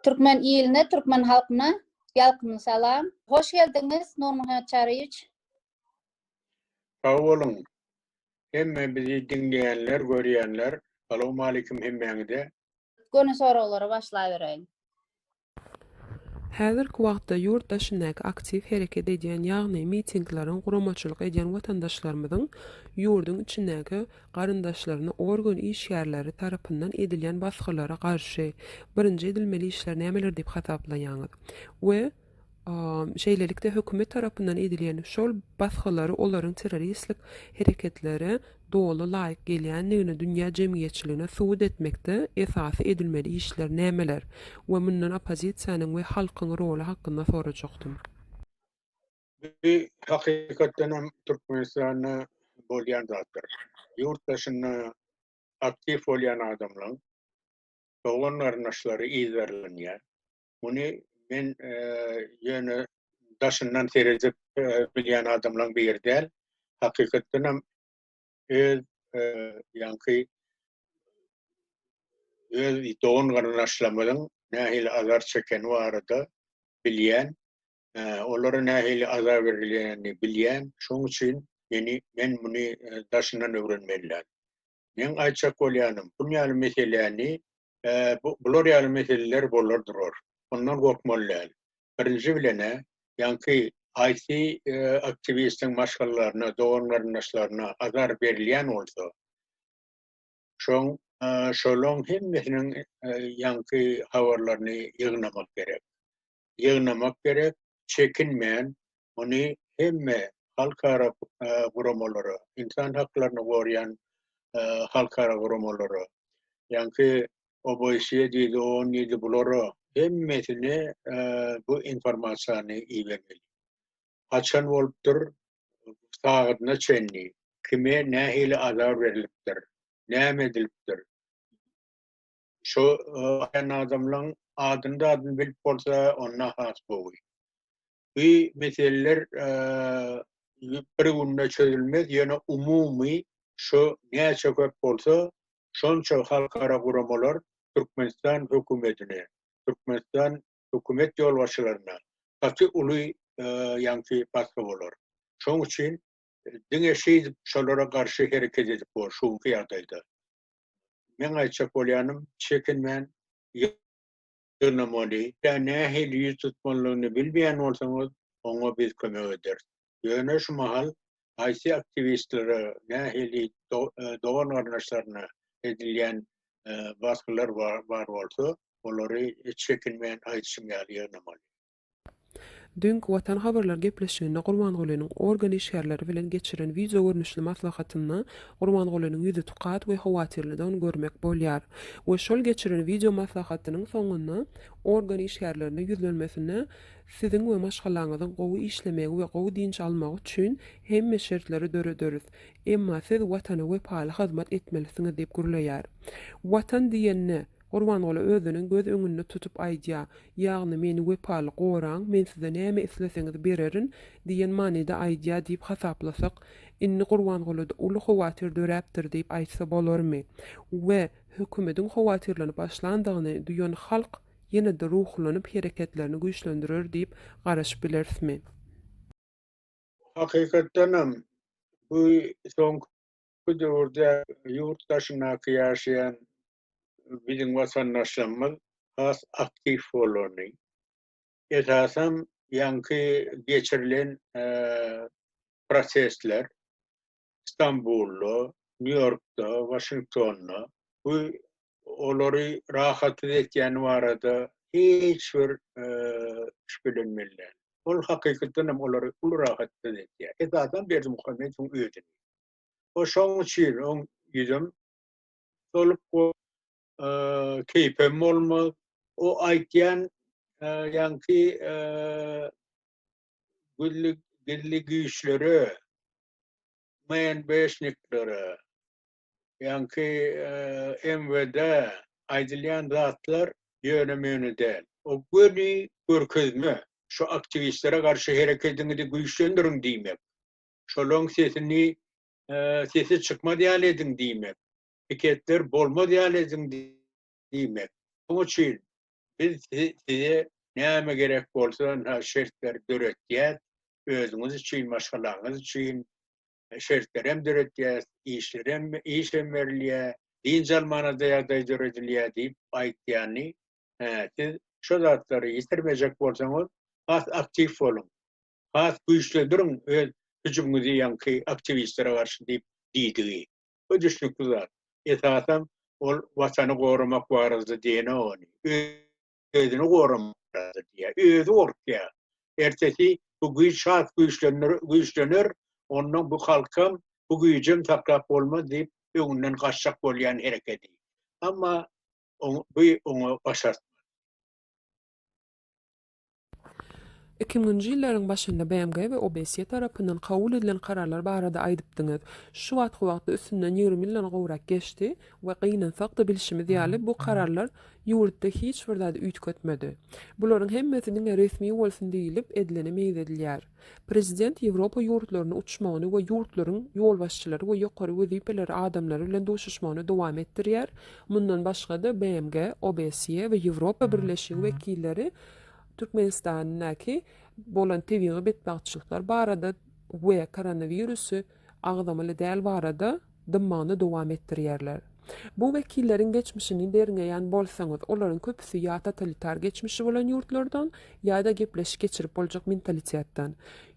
Türkmen iline, türkmen halkyna ýalkymly salam. Hoş geldiňiz, Nurmuhammet Çaryýewiç. Sag boluň. Hemme bizi diňleýänler, görýänler, salowmaleýkim hemmäňize. Göni soraglara başlaýbereýin. Häzirki wagtda ýurt daşyndaky aktiw hereket edýän, ýagny mitingleriň guramaçylyk edýän watandaşlarymyzyň ýurduň içindäki garyndaşlaryna organ işgärleri tarapyndan edilýän basgylara garşy birinji edilmeli işler nämeler diýip hasaplaýaňyz we Şeýlelikde, hökümet tarapyndan edilýän şol basgylary olaryň terroristlik hereketlere doly laýyk gelýändigini dünýä jemgyýetçiligine subut etmekde esasy edilmeli işler nämeler we mundan oppozisiýanyň we halkyň roly hakynda sorajakdym. Bu hakykatdan hem Türkmenistanda bolýan zatdyr. Ýurt daşynda aktiw bolýan adamlaň doglan-garyndaşlary yzarlanýar. Muny men ýöne daşyndan seredip bilýän adamlaryň biri däl. Hakykatdan hem öz ýaňky öz dogan garyndaşlarymyzyň nähili azar çekeni barada bilýän, olara nähili azar berilýänini bilýän. Şonuň üçin meni men muny daşyndan öwrenmelidäl. Meň aýtjak bolýanym, bun ýaly meseläni, bular ýaly meseleler bolar durar. Ondan gorkmaly däl. Birinji bilen-ä, ýaňky IT aktiwistiň maşgalalaryna, dogan-garyndaşlaryna azar berilýän bolsa, şoň şolaň hemmesiniň ýaňky habarlaryny ýygnamak gerek. ýygnamak gerek, çekinmän muny hemme halkara guramalara, ynsan haklaryny goraýan halkara guramalara, ýaňky OBSE diýdi, on diýdi, bulara hemmesine bu informasiýany ibermeli. Haçan bolupdyr, sagadyna çenli, kime nähili azar berlipdir, näme edilipdir. Şu aýan adamlaň adyny zadyny bilip bolsa onda has gowy. Bu meseleler bir günde çözülmez ýöne umumy şu näçe köp bolsa şonça halkara guramalar Türkmenistan hökümetine, Türkmenistan hökümet ýolbaşçylaryna gaty uly ýaňky basgy bolar. Şoň üçin diňe şeýdip şolara garşy hereket edip bor şu günki ýagdaýda. Meň aýtjak bolýanym, çekinmän ýygnamaly. Işe nähili ýüz tutmalydygyny bilmeýän bolsaňyz, oňa biz kömek ederis. Ýöne şu mahal haýsy aktiwistlere, nähili dogan-garyndaşlaryna edilýän basgylar bar bolsa, olary çekinmän aýdyşym ýaly ýygnamaly. Dünki Watan habarlar gepleşiginde Gurbangulynyň organ işgärleri bilen geçiren wideo görnüşli maslahatynda Gurbangulynyň ýüzi tukat we howatyrlydygyny görmek bolýar we şol geçiren wideo maslahatynyň soňunda organ işgärlerine ýüzlenmesinde Siziň we maşgalaňyzyň gowy işlemegi we gowy dynç almagy üçin hemme şertleri dörederis, emma siz Watana wepaly hyzmat etmelisiňiz diýip gürleýär. Watan diýende. Gurbanguly özüniň göz öňünde tutup aýdýar, ýagny meni wepaly goraň, men size näme isleseňiz bererin diýen manyda aýdýar diýip hasaplasak, indi Gurbangulyda uly howatyr döräpdir diýip aýtsa bolarmy? We hökümediň howatyrlanyp başlandygyny duýan halk ýene-de ruhlanyp hereketlerini güýçlendirer diýip garaşyp bilerismi? Hakykatdanam, bu soňky döwürde ýurt daşyndaky ýaşaýan biziň watandaşlarymyz has aktiw bolany, esasan ýaňky geçirilen protestler Stambulda, Nýu-Ýorkda, Waşingtonda bu olary rahatsyz etýäni barada hiç bir şübhelenmeli däl. Ol hakykatdan hem olary uly rahatsyz edýär. Esasan Berdimuhamedowyň özüni. Şonuň üçin oň ýüzem Solyp go keýpem bolmaz. O aýtýan ýaňky gülli gilli güýçlere men beşniklere ýaňky MWD aýdylýan zatlar ýöne möne däl. O göni görkezme şu aktiwistlere garşy hereketiňizi güýçlendiriň diýmek. Şolaň sesini sesi çykmaz ýaly ediň diýmek, piketler bolmaz ýaly ediň diýmek. Muň üçin biz size näme gerek bolsa şa şertleri döretýäs, özüňiz üçin, maşgalaňyz üçin şertlerem döretýäs, işlerem, işem berilýär, dynç almana-da ýagdaý döredilýär diýip aýtýany, siz şo zatlary ýitirmejek bolsaňyz, has aktiw boluň. has güýçlendiriň öz hüjümiňizi ýaňky aktiwistlere garşy diýip diýdigi. Bu düşnükli zat. Esasan ol watany goramak barada diýenok ony. Özüni goramak barada diýýär. Özi gorkýar. Ertesi bu güýç has güýçlenir, güýçlener, onda bu halkam, bu güýjem saklap bolmaz diýip öňünden gaçjak bolýan hereketi. Emma oň, bu oňa başartmaz. Iki müňünji ýyllaryň başynda BMG we OBSE tarapyndan kabul edilen kararlar barada aýdypdyňyz. Şu wagtky wagtda üstünden ýigrimi ýyldan gowrak geçdi we gynansak-da bilşimiz ýaly bu kararlar ýurtda hiç bir zady üýtgetmedi. Bularyň hemmesi diňe resmi bolsun diýlip edilene meýzedilýär. Prezident Ýewropa ýurtlaryna uçmagyny we ýurtlaryň ýolbaşçylary we ýokary wezipeleri adamlary bilen duşuşmagyny dowam etdirýär. Mundan başga-da, BMG, OBSE we Ýewropa Birleşigi wekilleri Türkmenistandaky bolan tebigy betbagtçylyklar barada we koronawirusy agzamaly däl barada dymmagyny dowam etdirýärler. Bu wekilleriň geçmişini derňeýän bolsaňyz, olaryň köpüsi ýa totalitar geçmişi bolan ýurtlardan, ýa-da gepleşik geçirip boljak mentalitetden.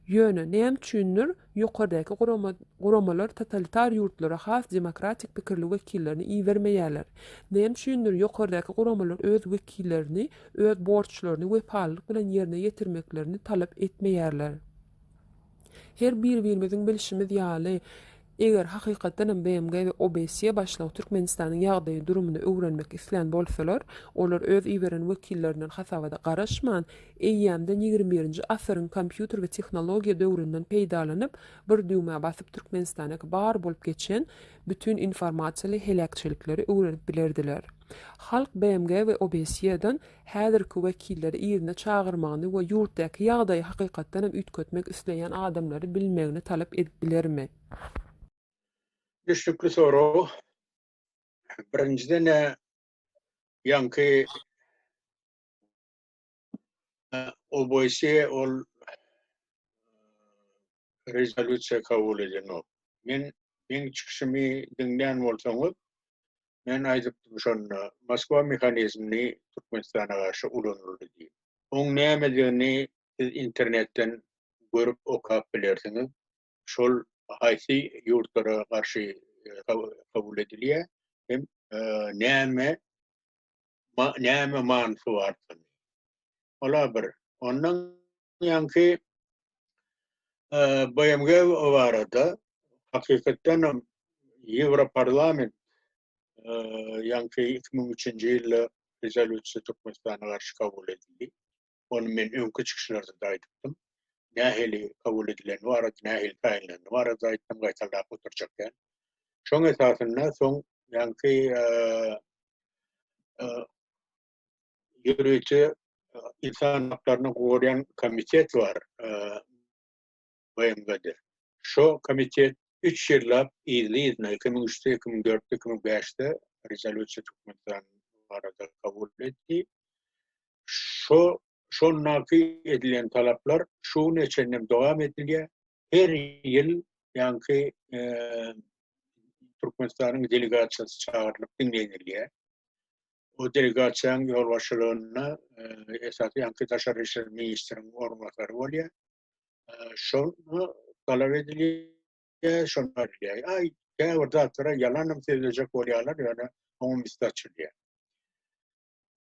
Ýöne, näme üçindir, ýokardaky gurama, guramalar totalitar ýurtlara has demokratik pikirli wekillerini ibermeýärler. Näme üçindir, ýokardaky guramalar öz wekillerini öz borçlaryny wepalylyk bilen ýerine ýetirmeklerini talap etmeýärler. Her bir-birimiziň bilşimiz ýaly, eger hakykatdan hem BMG we OBSE başlygy Türkmenistanyň ýagdaýy, durumyny öwrenmek islän bolsalar, olar öz iberen wekillerinden hasabada garaşman, eýýämden ýigrimi birinji asyryň kompýuter we tehnologiýa döwründen peýdalanyp, bir düwmä basyp Türkmenistandaki bar bolup geçen bütin informasiýaly heläkçilikleri öwrenip bilerdiler. Halk BMG we OBSE-den häzirki wekilleri yzyna çagyrmagyny we ýurtdaky ýagdaýy hakykatdan hem üýtgetmek isleýän adamlary bilmegini talap edip bilermi? Düşnükli sorag. Birinjiden-ä ýaňky OBSE ol rezolýusiýa kabul edenok. Men meň çykyşymy diňlän bolsaňyz, Men aýdypdym şonda, Moskwa mehanizmini Türkmenistana garşy ulanyldy diýip. Oň nämedigini siz internetden görüp okap bilersiňiz. Şol haýsy ýurtlara garşy kabul edilýär hem näme näme manysy bardygyny. Ol-a bir. Ondan ýaňky BMG barada hakykatdan hem Ýewroparlament ýaňky 2003-nji ýylda rezolýusiýa Türkmenistana garşy kabul edildi. Ony men öňki çykyşlarda da aýdypdym. Nähili kabul edileni barada, nähili taýynlany barada aýtdym, gaýtalap oturjak däl. Şoň esasynda soň ýaňky ýörite insan haklaryny goryan komitet bar BMG-de. Şo komitet 3 ýyllap yzly-yzyna 2003-de, 2004-de, 2005-de rezolýusiýa Türkmenistan barada kabul etdi. Şo şondaky edilen talaplar şu güne çenli dowam edilýär. Her ýyl ýaňky Türkmenistanyň delegasiýasy çagyrylyp diňlenilýär. Bu delegasiýanyň ýolbaşçylygynda esasy ýaňky daşary işler ministriniň orunbasary bolýar. Şol talap edilýär, şol edilýär. Aý, käbir zatlara ýalanam sözlejek bolýarlar, ýöne oňa üsti açylýar.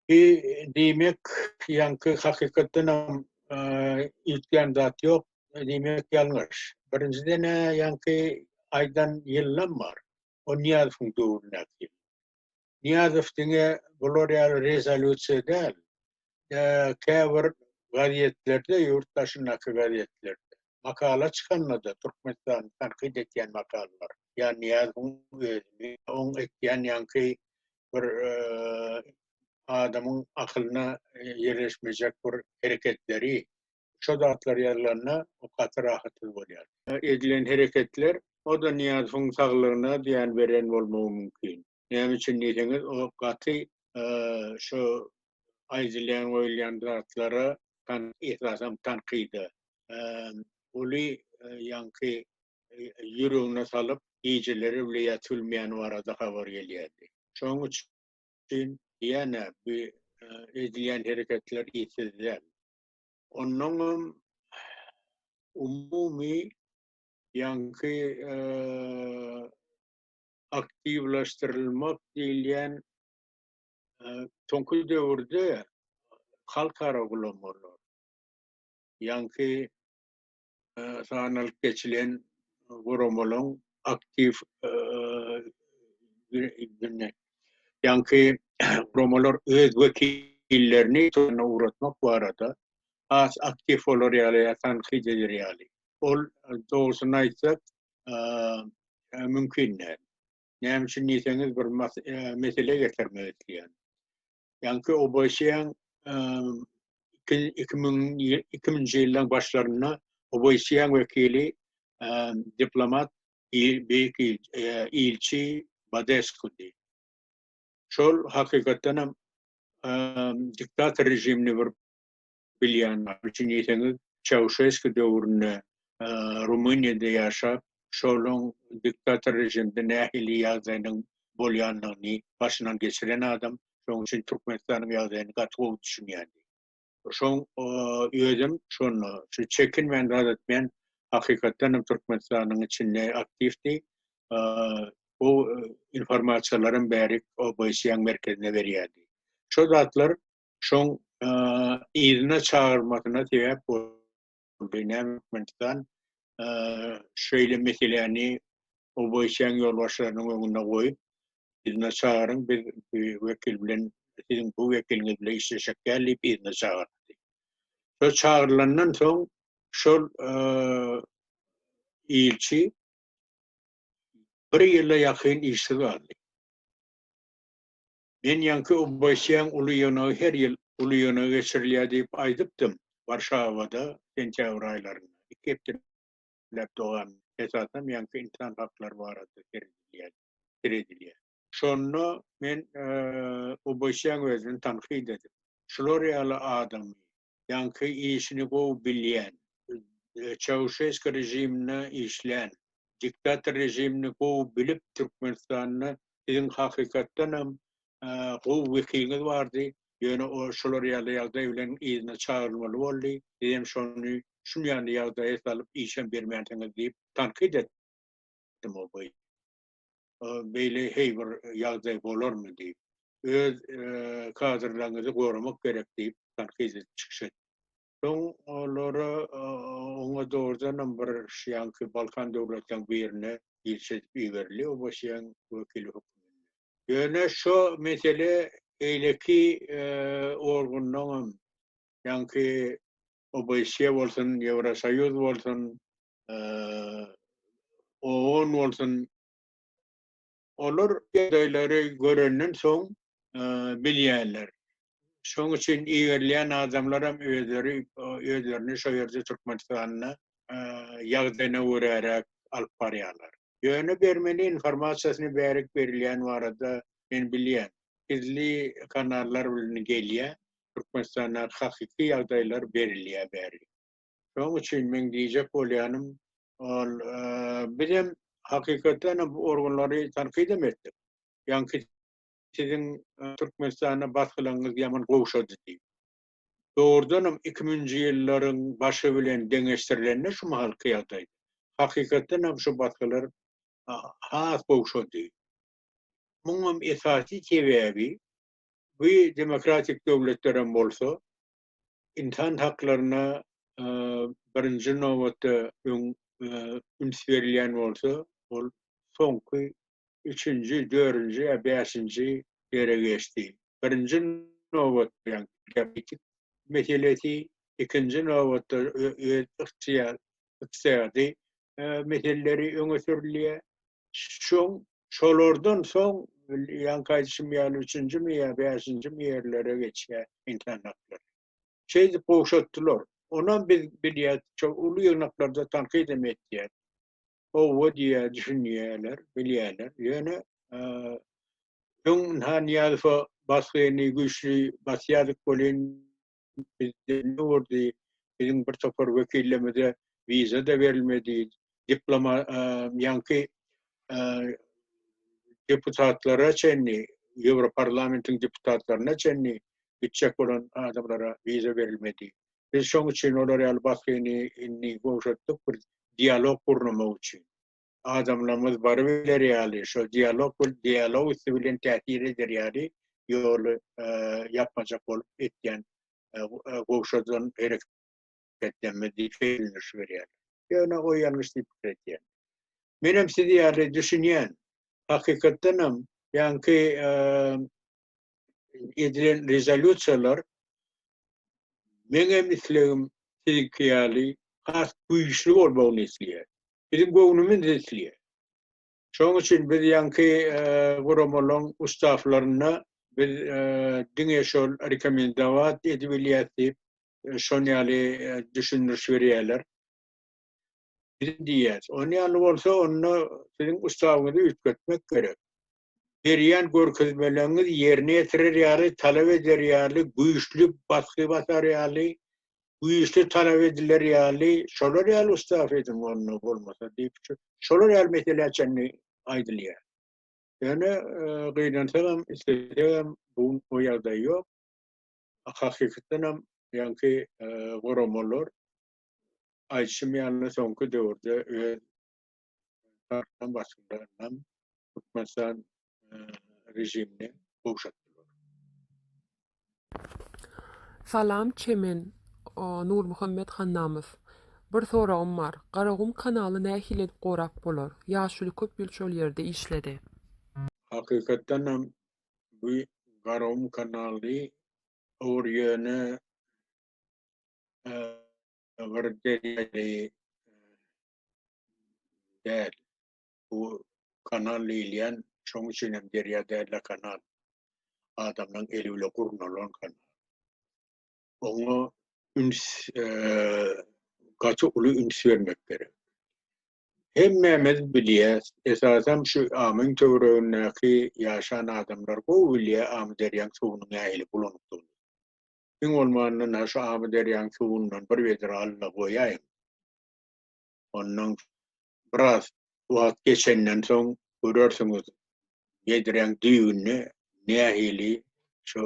Bi diýmek, ýaňky hakykatdan hem üýtgän zat ýok, diýmek ýalňyş. Birinjiden, ýaňky aýdan ýylam bar. O Nyýazowyň döwründäki ýyl. Nyýazow diňe bular ýaly rezolýusiýa däl, käbir gazetlerde, ýurt daşyndaky gazetlerde makala çykanda-da, Türkmenistany tankyt edýän makalalar, ýa Nyýazowyň özüni, oň etýän ýaňky bir adamyň akylyna ýerleşmejek bir hereketleri Şo zatlar ýazylanda o gaty rahatsyz bolýar. Edilen hereketler o-da Nyýazowyň saglygyna zyýan beren bolmagy mümkin. Näme üçin diýseňiz, o gaty şo aýdylýan, goýulýan zatlara esasan tankyda uly ýaňky ýüregine salyp, gijeleri bile ýatylmaýany barada habar gelýärdi. Şonuň üçin ýa-da bu edilýän hereketler ýiti däl. Onnoňam umumy ýaňky aktiwlaşdyrylmak diýilýän soňky döwürde halkara gulamalar, ýaňky sanalyp geçilen guramalaryň aktiw gününe. Ýaňky guramalar öz wekillerini ugratmak barada has aktiw bolar ýaly ýa tankyt eder ýaly. Ol dogrusyny aýtsak, mümkin däl. Näme üçin diýseňiz, bir mesele getirmek isleýän. Ýaňky OBSE-iň 2000-nji ýyllaryň başlarynda OBSE-iň wekili diplomat beýik ilçi Badeskudy. Şol hakykatdanam diktator režimini bir bilýänler üçin diýseňiz, Çauşeski döwründe Rumyniýada ýaşap, şolaň diktator režimde nähili ýagdaýynyň bolýandygyny başyndan geçiren adam, şonuň üçin Türkmenistanyň ýagdaýyny gaty gowy düşünýärdi. Şoň özem şonda şu çekinmän zat etmeýän hakykatdan hem Türkmenistanyň içinde aktiwdi. Bu informasiýalaram bärik OBSE-iň merkezine berýärdi. Şo zatlar şoň yzyna çagyrmasyna sebäp boldy. Näme Türkmenistan şeýle meseläni obeýşäň ýolbaşçylarynyň öňünde goýup, yzyna çagyryň, biz wekil bilen, siziň bu wekiliňiz bilen işleşjek däl diýip yzyna çagyrdy. Şo çagyrylandan soň şol ilçi bir ýyla ýakyn işsiz galdy. Men ýaňky Obasýan uly ýonagy her ýyl uly ýonagy geçirilýär diýip aýdypdym. Warşawada sentýabr aýlarynda, iki hepdeläp dowamynda, esasan ýaňky ynsan haklary barada seredilýär, seredilýär. Şonda men Obasýan özüni tankyt edip, Şular ýaly adamy ýaňky işini gowy bilýän, Çauşesko režiminde işlän, diktator režimini gowy bilip Türkmenistanda siziň hakykatdanam gowy wekiliňiz bardy, ýöne o şular ýaly ýagdaý bilen yzyna çagyrylmaly boldy, siz hem şony şunýanly ýagdaýa salyp işem bermänsiňiz diýip tankyt etdim o boýunça. beýle heý bir ýagdaý bolarmy diýip, öz kadrlaryňyzy goramak gerek diýip tankyt edip çykyş etdi. Soň olara oňa dogrudanam bir şuýanky Balkan döwletleriniň birine ilçi edip iberildi ABŞ-yň wekili hökmünde. Ýöne şu mesele beýleki organlaryň, ýaňky ABŞ bolsun, Ýewrosoýuz bolsun, owan bolsun, olar ýagdaýlary görenden soň bilýärler. Şonuň üçin iberilýän adamlar hem özleri özlerini şo ýerde Türkmenistanda ýagdaýyna göräräk alyp barýarlar. Ýöne bermeli informasiýasyny bärik berilýäni barada men bilýän. Gizli kanallar bilen gelýär, Türkmenistandaky hakyky ýagdaýlar berilýär bärik. Şonuň üçin meň diýjek bolýanym, ol bizem hakykatdan hem bu organlary tankytdam etdik. Ýaňky siziň Türkmenistana basgylaňyz ýaman gowşady diýip. Dogrudan hem iki müňünji ýyllaryň başy bilen deňeşdirilende şu mahalky ýagdaý, hakykatdan hem şu basgylar has gowşady. Muňam esasy sebäbi bu demokratik döwletlerem bolsa, ynsan haklaryna birinji nobatda öň üns berilýän bolsa, ol soňky üçünji, dörünji ýa bäşinji ýere geçdi. Birinji nobatda geopolitik meselesi, ikinji nobatda öz ykdyýady meseleleri öňe sürülýär. Şoň şolardan soň ýaňky aýdyşym ýaly üçünjimi ýa bäşinjimi ýerlere geçýär insan haklary. Şeýdip gowşatdylar. Onam biz bilýäs, şo uly ýygnaklarda tankyt hem etýär. Howwa diýýär, düşünýärler, bilýärler. Ýöne öň Nhan Nyýazowa basgyny güýçli basýardyk welin bizde ne boldy, biziň bir topar wekillerimize wiza-da berilmedi, diploma, ýaňky deputatlara çenli, Ýewroparlamentiň deputatlaryna çenli gitjek bolan adamlara wiza berilmedi. Biz şoň üçin olar ýaly basgyny indi gowşatdyk, bir dialog gurnamak üçin. adamlarymyz barybiler ýaly, şol dialog bul dialog üsti bilen täsir eder ýaly ýoly ýapmajak bolup etýän gowşadan herek etmez diýip bellenilişi berýär. Ýöne o ýalňyş diýip pikir edýän. Menem siz ýaly düşünýän. Hakykatdan hem ýaňky edilen rezolýusiýalar meňem islegim siziňki ýaly has güýçli bolmagyny isleýär. Biziň göwnümiz isleýär. Şonuň üçin biz ýaňky guramalaryň ustaflaryna biz diňe şol rekomendować edibilýäs diýip, şon ýaly düşündiriş berýärler. Biz diýýäs, on ýaly bolsa, onda siziň ustawyňyzy üýtgetmek gerek. berýän görkezmeleriňiz ýerine ýetirer ýaly talap eder ýaly güýçli basgy basar ýaly güýçli talap ediler ýaly şolar ýaly ustaf ediň onda bolmasa diýip şolar ýaly meselä çenli aýdylýar ýöne gynansagam islesegem bu o ýagdaý ýok hakykatdanam ýaňky guramalar aýdyşym ýaly soňky döwürde öz Tarapdan başynda ynam Türkmenistan režimini gowşatdylar. Salam Çemen Nurmuhammet Hannamow. Bir soragym bar. Garagum kanaly nähili edip gorap bolar? Ýaşuly köp ýyl şol ýerde işledi. Hakykatdan hem bu Garagum kanaly olar ýöne bir derýa däl. Bu kanal diýilýän şoň üçin hem derýa däl-de kanal. Adamlaň eli bile gurnalan kanal. Oňa üns gaty uly üns bermek gerek. Hemmämiz bilýäs, esasan şu amyň töweregindäki ýaşan adamlar gowy bilýär Amyderýaň suwunyň nähili bulanykdygyny. Iň bolmanda şu Amyderýaň suwundan bir wedre al-da goýaýyň. Ondan biraz wagt geçenden soň görersiňiz bedreň düýbünde nähili şu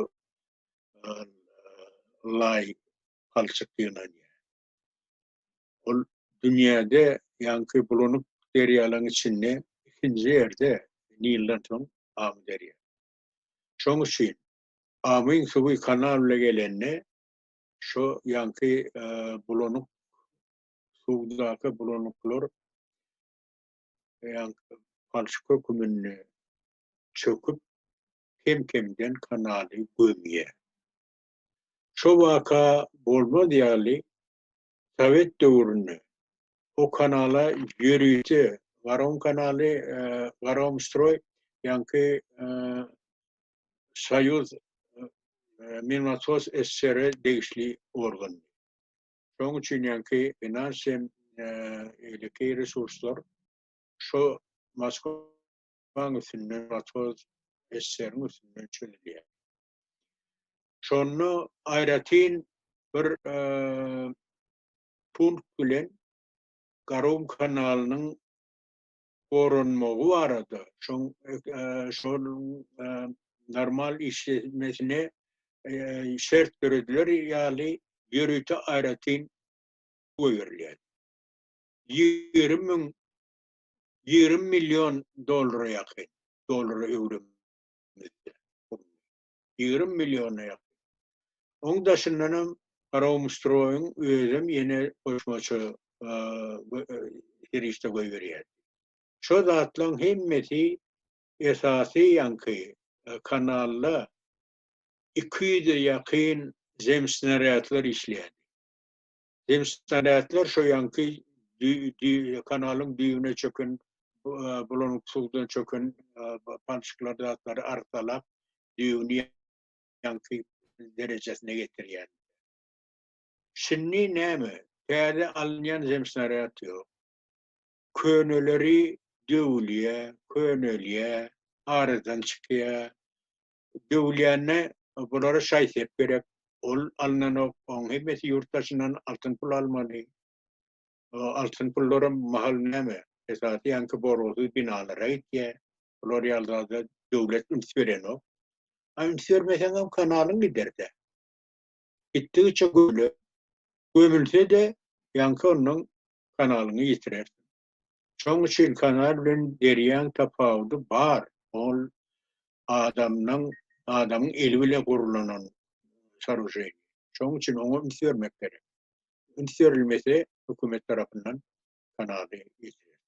laý palçyk ýygnanýar. Ol dünýäde ýaňky bulanyp derýalaryň içinde ikinji ýerde Nilden soň Amy derýa. Şoň üçin Amyň suwy kanal bilen gelende Şu ýanky bulanyk suwdaky bulanyklar ýanky palçyk höküminde çöküp kem-kemden kanaly gömýär. Şu waka bolmaz ýaly Sowet döwründe o kanala ýörite Garom kanaly, Garom stroý, ýaňky Soýuz Minnasos SSR degişli organdy. Şonuň üçin ýaňky finans hem beýleki resurslar şo Moskwaň üstünden Minnasos SSR-iň üstünden çözülýär. Şonda aýratyn bir punkt bilen Garun kanalynyň goranmagy barada, şoň şonuň normal işlemesine şert dörediler ýaly ýörite aýratyn goýberilýär. Ýigrimi müň, ýigrimi million dollara ýakyn, dollara öwrüm etdi. Ýigrimi milliona ýakyn. Oň daşyndanam Garagumstroýyň özem ýene goşmaça serişde goýberýärdi. Şo zatlaň hemmesi esasy ýaňky kanalda iki ýüze ýakyn zemsnarýadlar işleýärdi. Hemşireler şo ýanky kanalyň düýbüne çöken bulanyp suwdan çöken palçyklar zatlary arsalap düýbüni ýanky derejesine getirýär. Şindi näme täze alynýan zemsnaryat ýok. Köneleri döwülýär, könelýär, aradan çykýar. döwülýänine bulara şaý-sep gerek. Ol alynanok. Onuň hemmesi ýurt daşyndan altyn pul almaly. Altyn pullaram mahal näme, esasy ýaňky borgusyz binalara gitýär. Bular ýaly zada döwlet üns berenok. A üns bermeseňem kanalyň gider-dä. Gitdigiçe göle gömülse-de, ýaňky ondan kanalyňy ýitirer. Şoň üçin kanal bilen derýaň tapawudy bar, ol adamdan, adamyň eli bile gurlanan soruženi. Şoň üçin oňa üns bermek gerek. Üns berilmese hökümet tarapyndan kanaly ýitirer.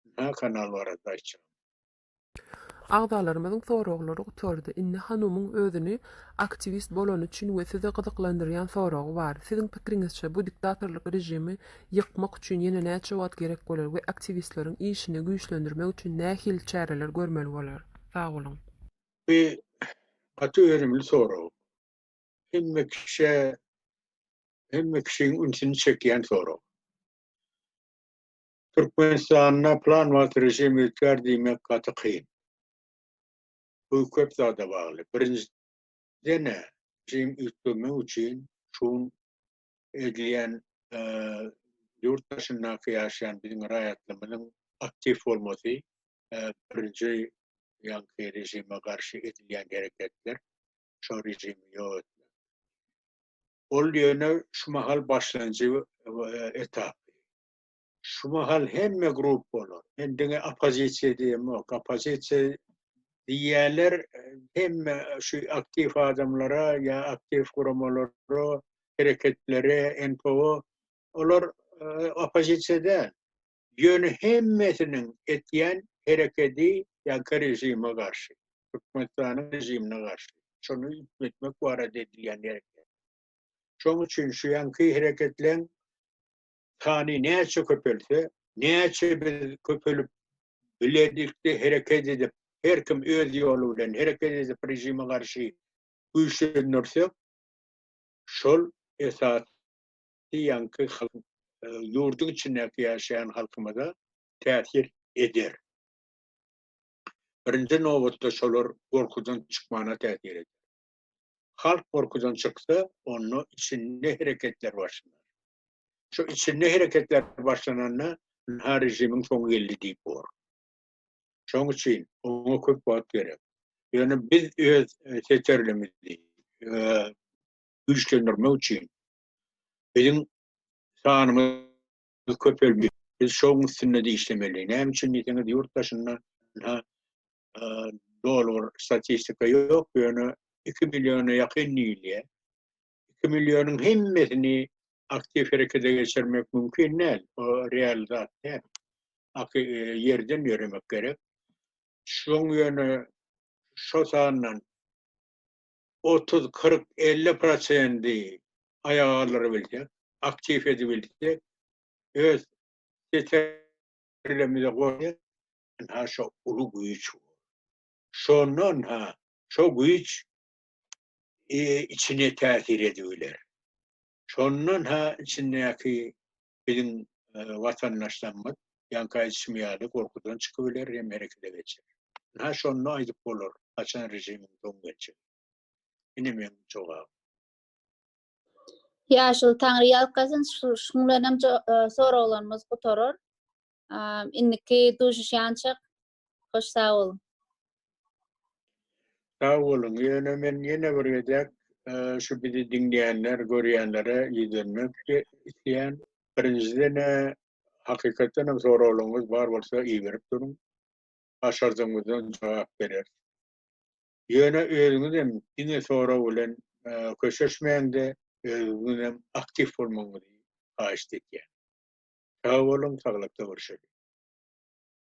Ynha kanal barada aýtjak. Agzalarymyzyň soraglary gutardy. Indi Hanumyň özüni aktiwist bolany üçin we sizi gyzyklandyrýan soragy bar. Siziň pikiriňizçe bu diktatorlyk režimi ýykmak üçin ýene näçe wagt gerek bolar we aktiwistleriň işini güýçlendirmek üçin nähili çäreler görmeli bolar? Sag boluň. Bu gaty önümli sorag. Hemme kişä, hemme kişiň ünsüni çekýän sorag. Türkmenistanda plan wagt režim üýtgär diýmek gaty kyn. Bu köp zada bagly. Birinjiden režim üýtgemek üçin şun edilýän ýurt daşyndaky ýaşaýan biziň raýatlymyzyň aktiw bolmasy birinji ýaňky režime garşy edilýän hereketler şo režimi ýok etmek. Ol ýöne şu mahal başlanjy etapy. Şu mahal hemme gruppalar, hem diňe oppozisiýa diýemok, oppozisiýa diýýärler, hemme şu aktiw adamlara ýa aktiw guramalara, hereketlere, NPO, olar oppozisiýa däl. Ýöne hemmesiniň etýän herekedi ýaňky režime garşy, Türkmenistanyň režimine garşy, şony üýtgetmek barada edilýän hereket. Şoň üçin şu ýaňky hereketleň Sany näçe köpelse, näçe biz köpelip biledik-de hereket edip, her kim öz ýoly bilen hereket edip režime garşy güýçlendirsek, şol esasy ýaňky ýurduň içindäki ýaşaýan halkymyza täsir eder. Birinji nobatda şolar gorkudan çykmana täsir eder. Halk gorkudan çyksa, onda içinde hereketler başlanar. Şu içinde hereketler başlananda ynha rejimiň soňy geldi diýip bor. Şoň üçin oňa köp wagt gerek. Ýöne biz öz e, seterlimizi e, güýçlendirmek üçin biziň sanymyz köpelmeli. Biz şoň üstünde işlemeli. Näme üçin diýseňiz, ýurt daşynda ynha e, doly bir statistika ýok, ýöne 2 milliona ýakyn diýilýär. 2 millionyň hemmesini aktiw herekete geçirmek mümkin däl. O real zat däl. Aky e, ýerden ýöremek gerek. Şoň ýöne şo sandan 30, 40, 50 prosendi aýaga galdyryp bilsek, aktiw edip bilsek, öz setirlemize goýýar. Ha şo uly güýç. Şondan ha şo güýç e, içine täsir edip biler. Şondan ha içindäki biziň e, watandaşlarymyz ýaňky aýdyşym ýaly gorkudan çykyp biler hem herekete geçer. Ha şonda aýdyp bolar, haçan režimiň soň geçer. Ine men jogap. Ýaşul taňry ýalkasyn, şuň bilen hem e, soraglarymyz gutarar. Indiki duşuşýançak Hoş sag boluň. Sag boluň. Ýöne men ýene bir gezek şu bizi diňleýänler, görýänlere ýüzlenmek isleýän. Birinjiden hakykatdan hem soraglaryňyz bar bolsa iberip duruň. Başardygymyzdan jogap bereris. Ýöne özüňiz hem diňe sorag bilen köşeşmäňde özüňiz hem aktiw bolmagyňyzy haýyşt etýän. Sag boluň, saglykda görşeliň.